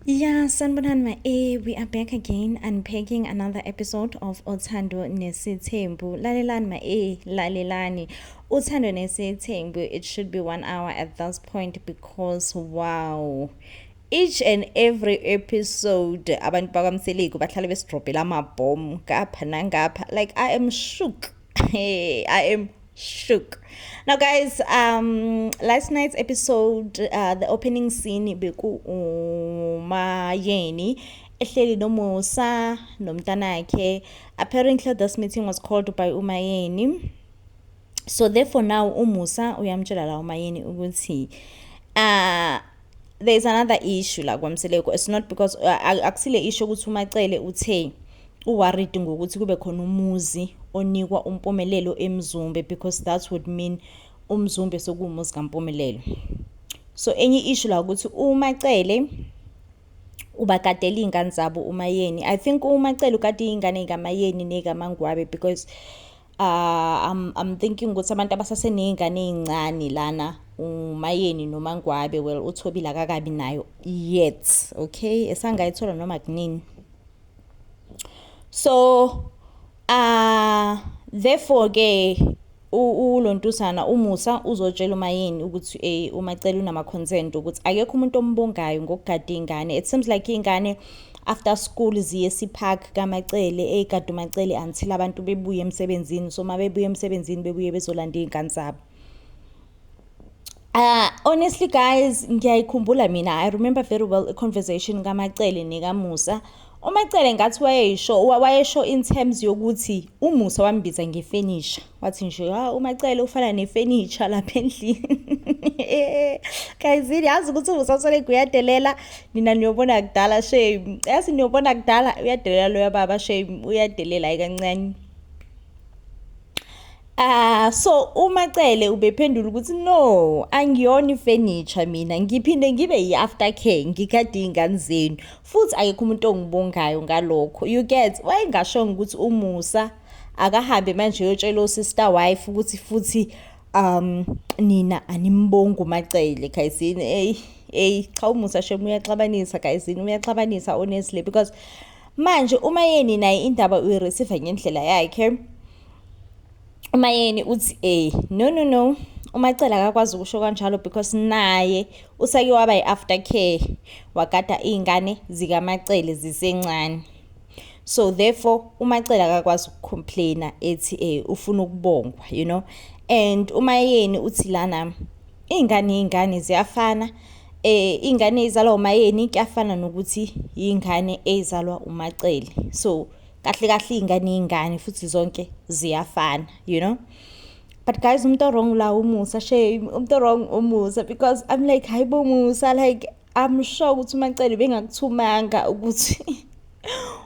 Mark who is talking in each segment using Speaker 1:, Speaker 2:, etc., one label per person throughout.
Speaker 1: Yeah, sanibonani ma eh we are back again unpacking another episode of Othando Nesithembu. Lalelani ma eh lalelani. Uthando Nesithembu it should be 1 hour at this point because wow. Each and every episode abantu bakwamseliku bahlale besidrobhela amabhomu ngapha nangapha like I am shook Hey, I am shook. Now, guys, um, last night's episode, uh, the opening scene, beku umayeni ehleli nomusa nomntanakhe apparently this meeting was called by umayeni so therefore now umusa uyamtshela la umayeni ukuthi uh, there is another issue la kwamseleku it's not because uh, akusile isho ukuthi umacele uthe uworried ngokuthi kube khona umuzi onikwa umpumelelo emzumbe because that would mean umzumbe sokuwumuzi kampumelelo so enye issue la ukuthi umacele ubakadela iy'ngane zabo umayeni i think umacele ukade iy'ngane yikamayeni nekamangwabe because Uh, I'm, I'm thinking ukuthi abantu abasaseney'ngane ey'ncane lana umayeni noma ngwabe well uthobile akakabi nayo yet okay esangayithola noma kunini so uh therefore ke ulontusana umusa uzotshela uma yini ukuthi eh uma cela unama consent ukuthi akekho umuntu ombongayo ngokugada ingane it seems like ingane after school ziye sipark kamacele ey'gadumacele until abantu bebuye emsebenzini so uma bebuye emsebenzini bebuye bezolanda iy'ngane zabo Uh, honestly guys ngiyayikhumbula mina i remember very well i-conversation kamacele nekamusa umacele ngathi wayeyisho wayesho in terms yokuthi umusa wambiza ngefenisha wathi nje ha ah, umacele ufana nefurniture lapha endlini kayizini yazi ukuthi usasole kuyadelela nina niyobona kudala shame yazi niyobona kudala uyadelela loya baba shame uyadelela ikancane Ah so umacele ubephendula ukuthi no angiyona ifurniture mina ngiphinde ngibe yi aftercare ngikade izingane zenu futhi ayikho umuntu ongibongayo ngalokho you get wayengasho ukuthi umusa akahambe manje uyotshela usister wife ukuthi futhi um nina animbongi umacele guysini eyi eyi cha umusa shem uyaxabanisa guysini uyaxabanisa honestly because manje uma yeni naye indaba uyireceive ngendlela yakhe uma yeni uthi eh no no no umacela akakwazi ukusho kanjalo because naye usake waba yi-after care wagada iy'ngane zikamacele zisencane so therefore umacela akakwazi ukucomplaina ethi eh ufuna ukubongwa you know and umayeni uthi lana iy'ngane iy'ngane ziyafana eh ingane izalwa umayeni kuyafana nokuthi ingane ezalwa umacele so kahle kahle ingane ingane futhi zonke ziyafana you know but guys umuntu wrong la umusa shame umuntu wrong umusa because i'm like hayibo musa like I'm sure ukuthi uMacele bengakuthumanga ukuthi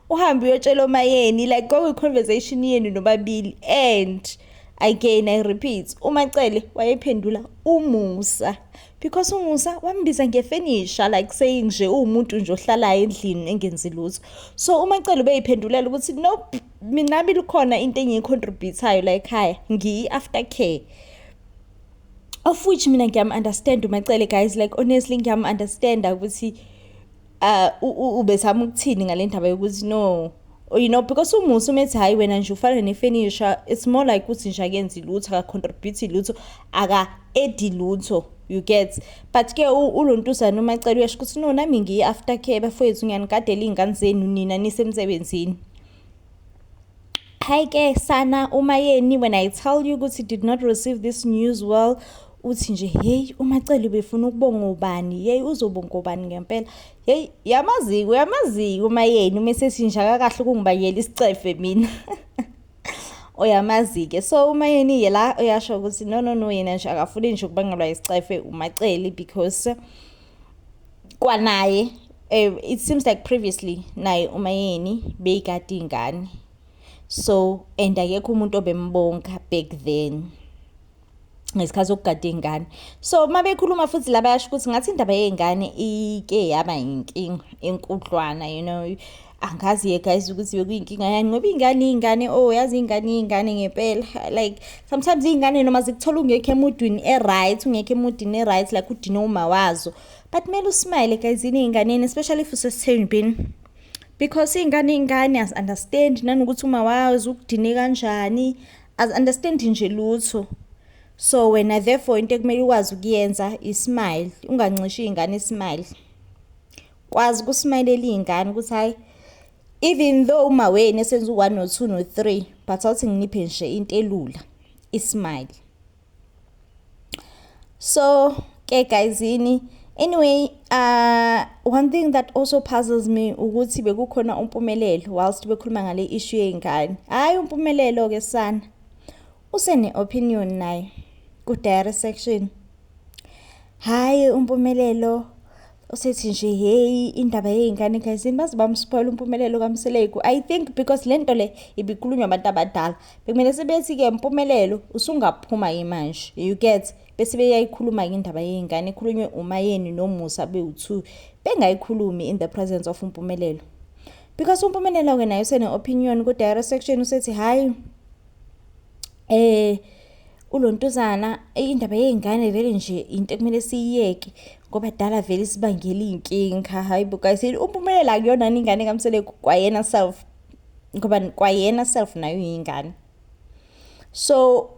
Speaker 1: uhambe uyotshela omayeni like kwakuyi conversation yenu nobabili and again i repeat umacele wayephendula umusa because umusa wambiza ngefenisha like saying nje uwumuntu nje ohlalayo endlini engenzi lutho so umacele ubeyiphendulela ukuthi nope mina bilikhona into engiyicontributayo la ekhaya ngiyi-after care of which mina ngiyam-understand umacele guys like honestly ngiyam-understanda ukuthi uh, ubezama ukuthini ngale ndaba yokuthi no oh, you know because umusa umethi hhayi wena nje ufana nefenisha it's more like ukuthi nje akenzi lutho akacontribute lutho aka-edi lutho you get but ke ulontuzana umacela uyasho ukuthi no nami ngiyi-after care bafowethu ngiyanigadela iy'ngane zenu nina nisemsebenzini Hi ke sana umayeni when I tell you ukuthi did not receive this news well uthi nje hey umacele ubefuna ukubonga ubani hey uzobonga ubani ngempela hey yamaziko yamaziko umayeni uma sesinjaka kahle ukungibayela isicefe mina oyamazike so uma yeni yela uyasho ukuthi no no no yena nje akafuni nje ukubangelwa isicefe umaceli because kwanaye um it seems like previously naye umayeni beyikade iy'ngane so and akekho umuntu obembonga back then ngesikhathi sokugada iy'ngane so uma bekhuluma futhi la bayasho ukuthi ngathi indaba yey'ngane ike yaba yinkinga enkudlwana you know angazi-ke guys ukuthi bekuyinkinga yani ngoba iy'ngane iy'ngane o oh, yazi iy'ngane iy'ngane ngempela like sometimes iy'ngane noma zikuthola ungekho emudwini e-right ungekho emudini e-right like udine uma wazo but kumele usmile guyzini ey'nganeni especially if usesithembini because iy'ngane iy'ngane azi-understand nanokuthi uma wazi ukudine kanjani azi-understand nje lutho so wena therefore into ekumele ukwazi ukuyenza ismile ungancishi iy'ngane ismile Kwazi kusmayelele iy'ngane ukuthi hhayi even though uma wenu esenza u-one no-two no-three but awuthi nginiphe nje into elula ismile so ke guyzini anyway uh, one thing that also puzzles me ukuthi bekukhona umpumelelo whilst bekhuluma ngale issue yey'ngane hhayi umpumelelo-ke sana Usene opinion naye ku diary section. Hayi umpumelelo usethi nje hey indaba yey'ngane gayizini baze bamspoyela umpumelelo kamseleku i think because le nto le ibikhulunywa abantu abadala bekumele sebethi-ke mpumelelo usungaphuma yimanje you get bese beyayikhuluma-ke indaba yey'ngane ekhulunywe umayeni nomusa bewu-two bengayikhulumi in the presence of umpumelelo because umpumelelo-ke naye usene-opinion ku-dire section usethi hhayi Eh ulontuzana eyi indaba yey'ngane vele nje into ekumele siyiyeke ngoba dala vele isibangela iy'nkinga hhayi bo guys umpumelelo akuyona yini ingane kamseleku kwayena self ngoba kwayena self nayo yingane so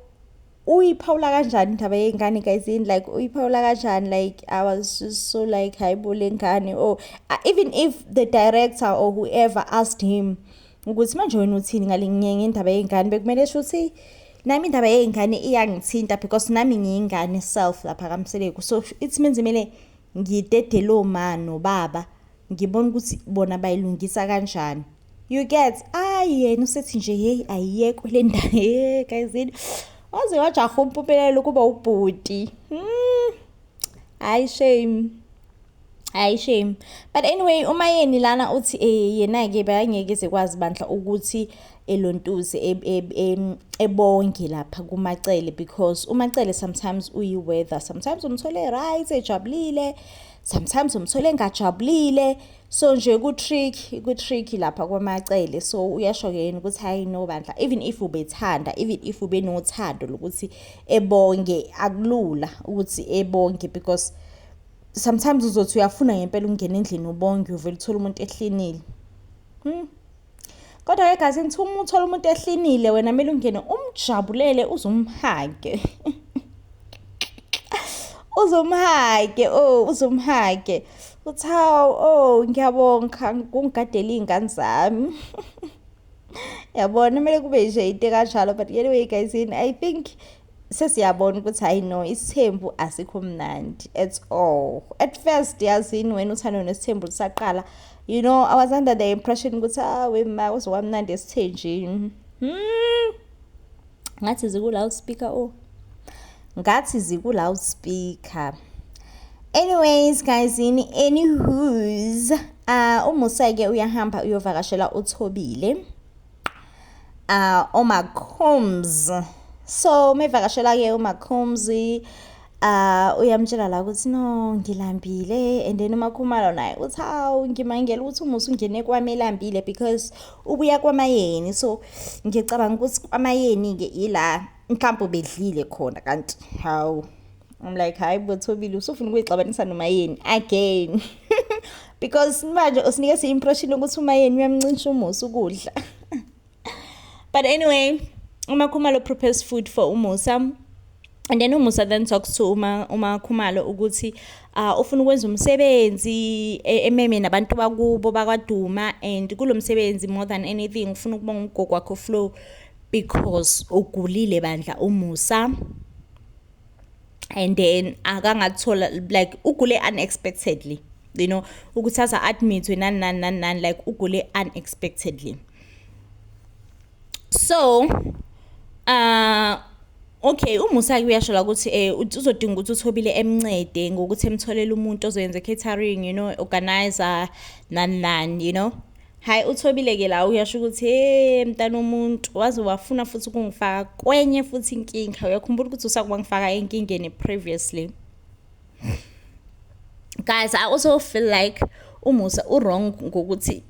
Speaker 1: uyiphawula kanjani indaba yey'ngane guys yini like uyiphawula kanjani like i was just so like hhayi bo le ngane or oh, even if the director or whoever asked him ukuthi manje wena uthini ngale ngendaba yey'ngane bekumele sho ukuthi nami indaba yey'ngane iyangithinta because nami ngiyingane self lapha kamseleku so it means kumele ngidedele oma nobaba ngibona ukuthi bona bayilungisa kanjani you get ayi yena usethi nje yeyi ayiyekwe le ndaba ye gayizini waze wajaha umpumelelo kuba ubhuti hmm. hayi shame hayi shame but anyway uma yeni lana uthi eh yena-ke bekangeke zekwazi bandla ukuthi elontuze e, e, e, ebonge lapha kumacele because umacele sometimes uyi-weather sometimes umthole right ejabulile sometimes umthole engajabulile so nje ku-trick ku-trick lapha kwamacele so uyasho-ke yena ukuthi hhayi no bandla even if ubethanda even if ubenothando lokuthi ebonge akulula ukuthi ebonge because sometimes uzothi uyafuna ngempela ukungena endlini ubonge uvele uthole umuntu ehlinile hmm. Kodwa ke guys ngithi uma uthola umuntu ehlinile wena kumele ungene umjabulele uzumhage. uzumhage oh uzumhage. Uthi hawu oh ngiyabonga kungigadela izingane zami. Yabona kumele kube nje into kanjalo but anyway guys I think sesiyabona ukuthi hayi no isithembu asikho mnandi at all at first yazini wena uthando nesithembu lisaqala you know i was under the impression ukuthi ah wema uzokwamnandi esithenjini hmm. ngathi zikula uspeaker o oh. ngathi zikula uspeaker anyways guys in any who's uh, umusa-ke uyahamba uyovakashela uthobile uh, omacombs so mevakashela-ke umacombs uh uyamtshela la ukuthi no ngilambile and then umakhumalo naye uthi hawu ngimangela ukuthi umusa ungene kwami elambile because ubuya kwamayeni so ngicabanga ukuthi kwamayeni-ke ila mhlawumbe ubedlile khona kanti hawu I'm like hayi bothobile usufuna ukuyixabanisa nomayeni again because manje usinike si impression ukuthi umayeni uyamncintsha umusa ukudla but anyway uma khumalo prepares food for umusa and then umusa then talks to uma uma khumalo ukuthi uh, ufuna ukwenza umsebenzi e, ememe nabantu bakubo bakwaduma and kulo msebenzi more than anything ufuna ukubonga umgogo wakho flow because ugulile bandla umusa and then akangakuthola like ugule unexpectedly you know ukuthi aza admitwe nani nani nani nani like ugule unexpectedly so uh Okay uMusaki uyasho la ukuthi eh uzodinga ukuthi uthobile emncede ngokuthi emtholele umuntu ozoyenza catering you know organizer nan nan you know Hayi uthobile ke la uyasho ukuthi hey mntana umuntu waze wafuna futhi ukungifaka kwenye futhi inkinga uyakhumbula ukuthi usakuba ngifaka enkingeni previously guys i also feel like umusa uwrong ngokuthi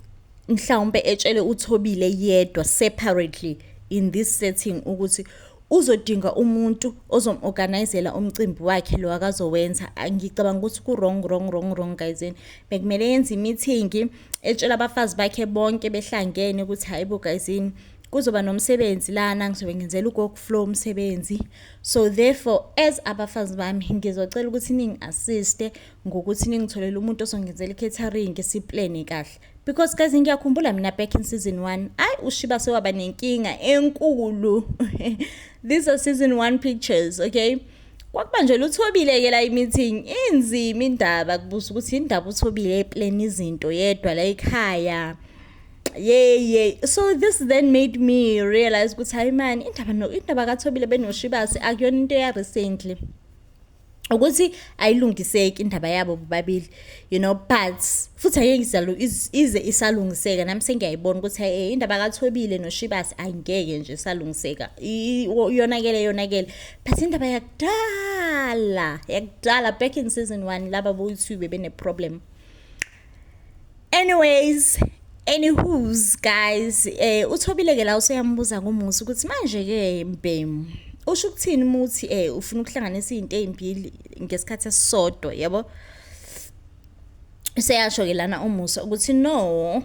Speaker 1: mhlawumbe etshele uthobile yedwa separately in this setting ukuthi uzodinga umuntu ozomorganizela umcimbi wakhe lo akazowenza ngicabanga ukuthi ku-wrong wrong wrong wrong guys bekumele yenze imithingi etshela abafazi bakhe bonke behlangene ukuthi hayi bo guys yini kuzoba nomsebenzi lana ngizobe ngenzela ugogo flow umsebenzi so therefore as abafazi bami ngizocela ukuthi ningi assiste ngokuthi ningitholele umuntu osongenzela i-catering siplane kahle because guys ngiyakhumbula mina back in season 1 ayi ushiba sewaba nenkinga enkulu these are season 1 pictures okay kwakubanjelwa uthobile-ke la i-meeting inzima indaba kubuza ukuthi indaba uthobile epleni izinto yedwa la ekhaya yeye so this then made me realize ukuthi hayi mani indaba no indaba kathobile benoshibasi akuyona into eya recently ukuthi ayilungiseki indaba yabo bobabili you know but futhi ayeke izalo ize isalungiseka nami sengiyayibona ukuthi hey eh, indaba kathobile noshibasi ayingeke nje salungiseka iyonakele yonakele but indaba yakudala yakudala back in season one laba boyi-two bebeneproblem anyways any who's guys um eh, uthobile-ke la useyambuza ngomusa ukuthi manje-ke mbhemu usho ukuthini uma uthi um ufuna ukuhlanganisa iy'nto ey'mbili ngesikhathi esisodwa yabo useyasho ke lana umusa ukuthi no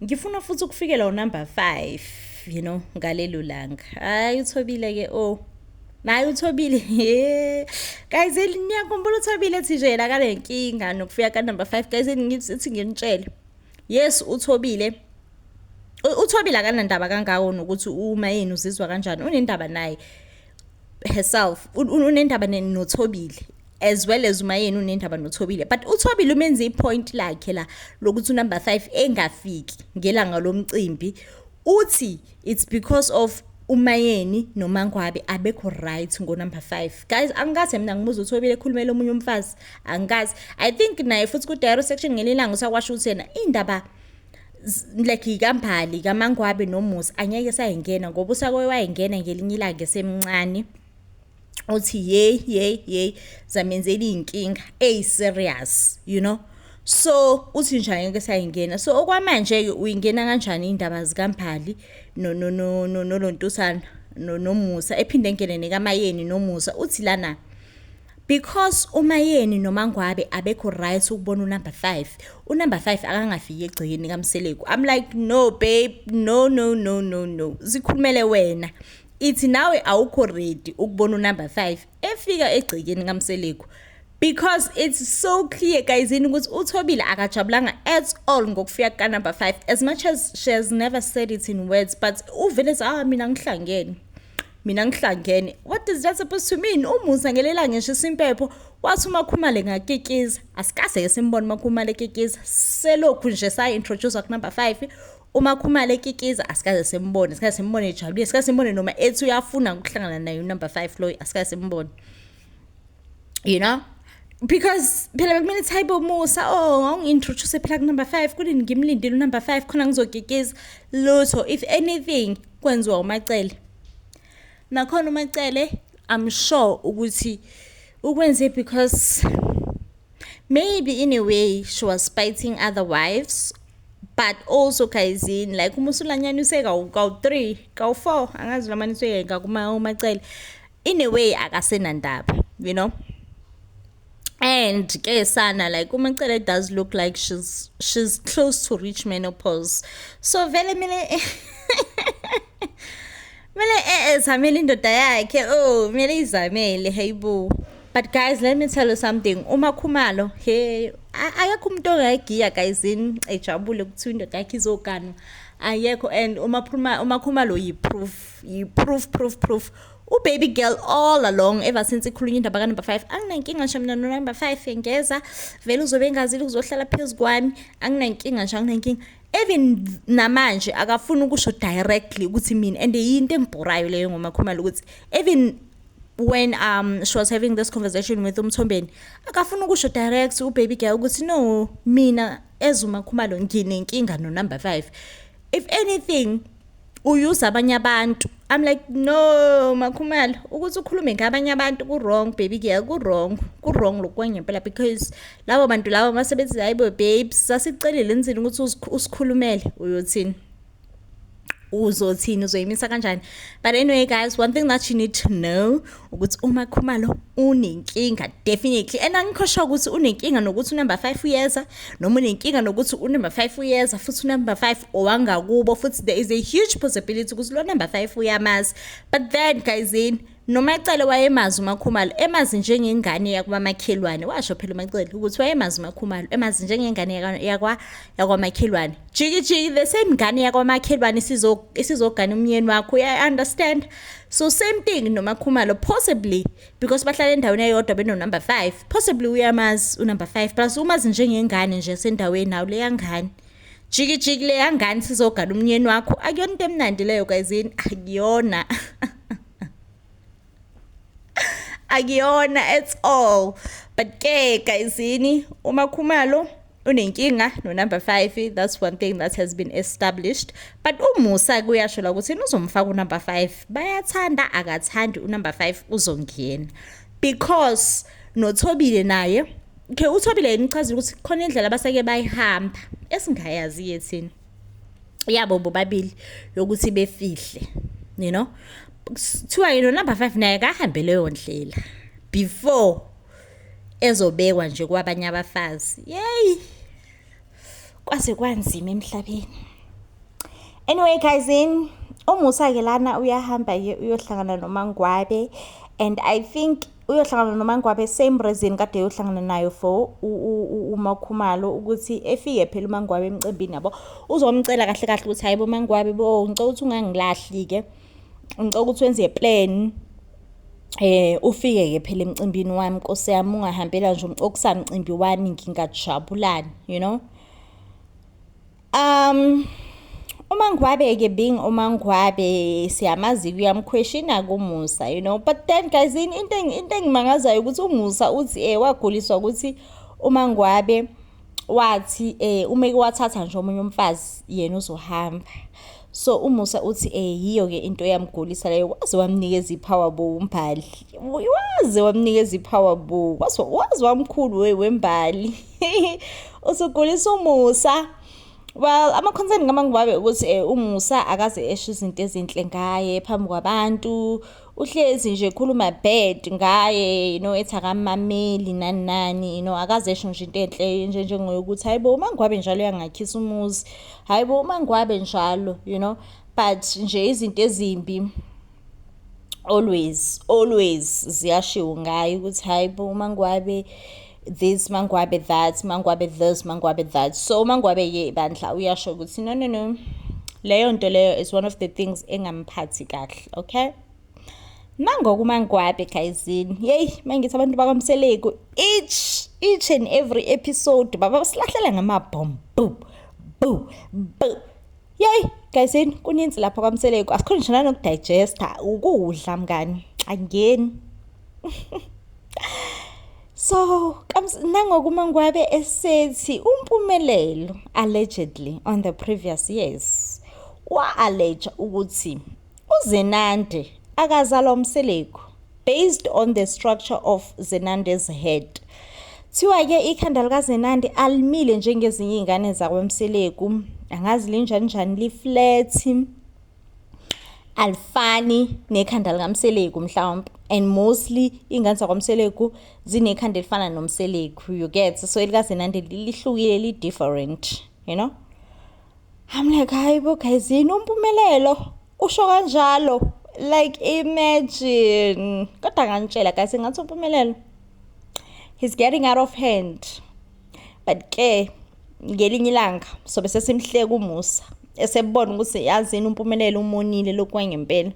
Speaker 1: ngifuna futhi ukufikela unumber 5 you know ngalelo langa hayi uthobile ke oh naye uthobile guys niyakhumbula uthobile ethi nje la kale nkinga nokufika ka number 5 guys ngithi nginitshele yes uthobile uthobile akanandaba kangako nokuthi uma yini uzizwa kanjani unendaba naye herself unendaba nothobile as well as umayeni unendaba nothobile but uthobile umenze ipoint lakhe la lokuthi unumber 5 engafiki ngelanga lomcimbi uthi it's because of umayeni nomangwabe abekho right ngo number 5 guys angikaze mina ngimuza ukuthi obile ekhulumela omunye umfazi angikaze i think naye futhi ku direct section ngelilanga usakwasho ukuthi yena indaba like ikambali kamangwabe nomusa angeke sayingena ngoba usakoye wayengena ngelinye ilanga esemncane uthi yey yey yey zamenzela iy'nkinga eyi-serious you know so uthi nje angeke sayingena so okwamanje-ke uyingena kanjani iy'ndaba zikambhali nolontusana nomusa ephinde engene nekamayeni nomusa uthi lana Because uMayeni noMangwabe abekho right ukubona unumber 5. Unumber 5 akangafiki egcekeni kaMseleku. I'm like no babe, no no no no no. Zikhulumele wena. Ithi nawe awukho ready ukubona unumber 5 efika egcekeni kaMseleku. because it's so clear guys yini ukuthi uthobile akajabulanga at all ngokufika ka number 5 as much as she has never said it in words but uvele ah mina ngihlangene mina ngihlangene what is that supposed to mean umusa ngelela ngisho isimpepho wathi umakhumale ngakikiza asikaze ke simbone umakhumale ekikiza selokhu nje sayi-introduce kunumber five umakhumale ekikiza asikaze simbone asikaze simbone ejabulile asikaze simbone noma ethi uyafuna ukuhlangana naye unumber five loyo asikaze simbone you know because phela bekumele ukuthi hayibo musa oh ngawungi-introduce phela kunumber five kunini ngimlindile unumber five khona ngizogegeza lutho if anything kwenziwa umacele nakhona umacele i'm sure ukuthi ukwenze because maybe in a way she was fighting other wives but also guyzini like uma usulanyana useka kawu-three kawu-four angazi lamaniswe yeka kumacele in a way akasenandaba you know and ke sana like umacele does look like she's she's close to reach menopause so vele mina mina eh zamele indoda yakhe oh mina izamele hayibo but guys let me tell you something uma khumalo he akekho umuntu ongayigiya guys in ejabule ukuthi indoda yakhe izoganwa ayekho and uma phuma uma khumalo yiproof yiproof proof proof, proof. ubaby girl all along ever since ikhulunywa indaba ka number 5 anginankinga nje mina no number 5 yengeza vele uzobe engazile uzohlala phezu kwami anginankinga nje anginankinga even namanje akafuni ukusho directly ukuthi mina and yinto engibhorayo leyo ngomakhumalo ukuthi even when um she was having this conversation with umthombeni akafuni ukusho direct ubaby girl ukuthi no mina ezumakhumalo nginenkinga no number 5 if anything uyuza abanye abantu i'm like no makhumalo ukuthi ukhulume ngabanye abantu ku-wrong baby ke ku-wrong ku-wrong lokwangempela because labo bantu labo masebethi hayi bo babes sasicelile enzini ukuthi usikhulumele uyothini uzothini uzoyimisa kanjani but anyway guys one thing that you need to know ukuthi uma khumalo unenkinga definitely and angikho sure ukuthi unenkinga nokuthi unumber 5 uyeza noma unenkinga nokuthi unumber 5 uyeza futhi unumber 5 owangakubo futhi there is a huge possibility ukuthi lo number 5 uyamazi but then guys in nomacele wayemazi umakhumalo emazi njengengane yakwamakhelwane washo phela umacele ukuthi wayemazi umakhumalo emazi njengengane yakwa yakwamakhelwane jikijiki the same ngane yakwamakhelwane isizogana umyeni wakho i understand so same thing nomakhumalo possibly because bahlala endaweni eyodwa benonumber five possibly uyamazi unumber five plus umazi njengengane nje sendaweni nawo leyangane jikijiki leyangane sizogana umyeni wakho akuyona into emnandi leyo kayizini akuyona akuyona at all but ke guyzini umakhumalo unenkinga no number 5 that's one thing that has been established but umusa kuyasho la ukuthi uzomfaka u number 5 bayathanda akathandi u number 5 uzongena because nothobile naye ke uthobile yini uchazile ukuthi khona indlela abaseke bayihamba esingayazi yethini yabo bobabili yokuthi befihle you know kuthiwa yino number 5 naye kahambe leyo ndlela before ezobekwa nje kwabanye abafazi yey kwase kwanzima emhlabeni anyway guys in umusa ke lana uyahamba uyohlangana nomangwabe and i think uyohlangana nomangwabe same reason kade yohlangana nayo for uma ukhumalo ukuthi efike phela umangwabe emcimbini yabo uzomcela kahle kahle ukuthi hayibo mangwabe bo ngicela ukuthi ungangilahli ke ngicela ukuthi wenze plan eh ufike ke phela emcimbini wami nkosi yami ungahambela nje umcokisa mcimbi wami ngingajabulani you know Um uMangwabe ke being uMangwabe siyamazi uyamkhweshina kuMusa you know but then guys into into engimangazayo ukuthi uMusa uthi eh waguliswa ukuthi uMangwabe wathi eh uma ke wathatha nje omunye umfazi yena uzohamba So uMusa uthi eh yiyo ke into yamgulisa leyo waze wamnikeza ipower bo umbali. Waze wamnikeza ipower bo. Waze waze wamkhulu we wembali. Usugulisa uMusa. Well ama concern kamangibabe ukuthi eh, uMusa akaze esho izinto ezinhle ngaye phambi kwabantu. uhlezi nje khuluma bad ngaye you know ethi akamameli nani nani you know akazesho nje into enhle nje njengoyokuthi hayibo uma ngwabe njalo yangakhisa umuzi hayibo uma ngwabe njalo you know but nje izinto ezimbi always always ziyashiwo ngayo ukuthi hayibo uma ngwabe this mangwabe that mangwabe this mangwabe that so umangwabe ye bandla uyasho ukuthi no no no leyo nto leyo is one of the things engamphathi kahle okay nangoku umangwabe gayizini yeyi mangithi abantu bakwamseleku each each and every episode baba basilahlele ngamabhom bu bu bu Yey guysin kuninzi lapha kwamseleku asikhona ngisho nanokudigesta ukudla mngani angeni so nangoku uma ngwabe esethi umpumelelo allegedly on the previous years wa-alleja ukuthi UZenande akazalwa uMseleku based on the structure of Zenande's head. Thiwa ke ikhanda lika Zenande alimile njengezinye izingane zakwa Mseleku. Angazi linjani njani li flat. Alifani nekhanda lika Mseleku mhlawumbe and mostly ingane zakwa Mseleku zinekhanda elifana noMseleku you get so elika Zenande lihlukile li different you know. I'm like hayi bo guys yini umpumelelo usho kanjalo like imagine kodwa nganitshela guys ngathi umpumelelo he's getting out of hand but ke ngelinye ilanga sobe sesimhleka umusa esebona ukuthi yazini umpumelelo umonile lokwangempela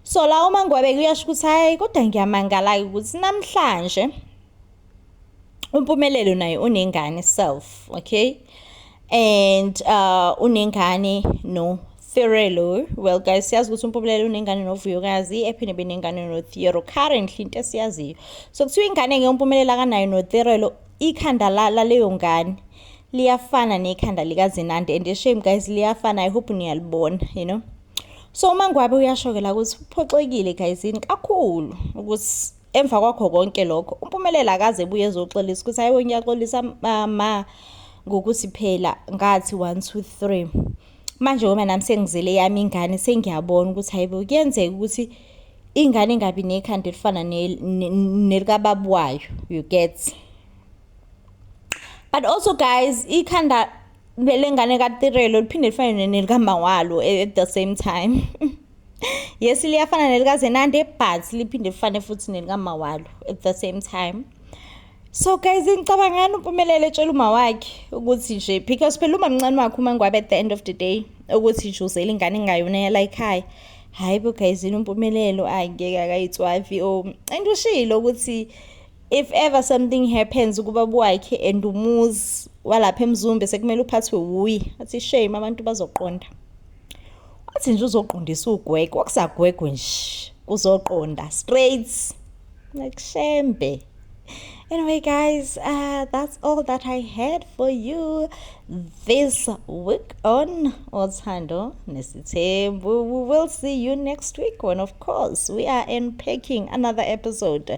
Speaker 1: so la uma ngwabeke uyasho ukuthi hayi kodwa ngiyamangala-ke ukuthi namhlanje uMpumelelo naye unengane self okay and uh unengane no Thirelo well guys siyazi ukuthi uMpumelelo unengane noVuyokazi ephinde benengane noThero currently into esiyaziyo so kuthiwa ingane ke uMpumelelo akanayo noThirelo ikhanda la laleyo ngane liyafana nekhanda likaZinande and shame guys liyafana i hope niyalibona you know so uma ngwabe uyashokela ukuthi uphoxekile guys yini kakhulu ukuthi Emva kwakho konke lokho uMpumelelo akaze ebuye ezoxolisa ukuthi hayiwe ngiyaxolisa mama ngokuthi phela ngathi one two three manje ngoba nami sengizele yami ingane sengiyabona ukuthi hayibo kuyenzeka ukuthi ingane ingabi nekhanda elifana nelikababu wayo you get but also guys ikhanda lelengane katirelo liphinde lifane nelikamawalo at the same time yes liyafana nelikazenande but liphinde lifane futhi nelikamawalo at the same time so guys ngicabangani umpumelelo etshela uma wakhe ukuthi nje because phela uma mncane wakhe uma ngwabe at the end of the day ukuthi nje uzele ingane engayona yala ekhaya hhayi bo guys yini umpumelelo angeke akayitswavi o and ushilo ukuthi if ever something happens kubaba wakhe and umuzi walapha emzumbe sekumele uphathwe wuye athi shame abantu bazoqonda athi nje uzoqondisa ugwegwe wakusagwegwe nje kuzoqonda straight like shembe anyway guys uh, that's all that i had for you this week on othando nesithembu we will see you next week and of course we are unpacking another episode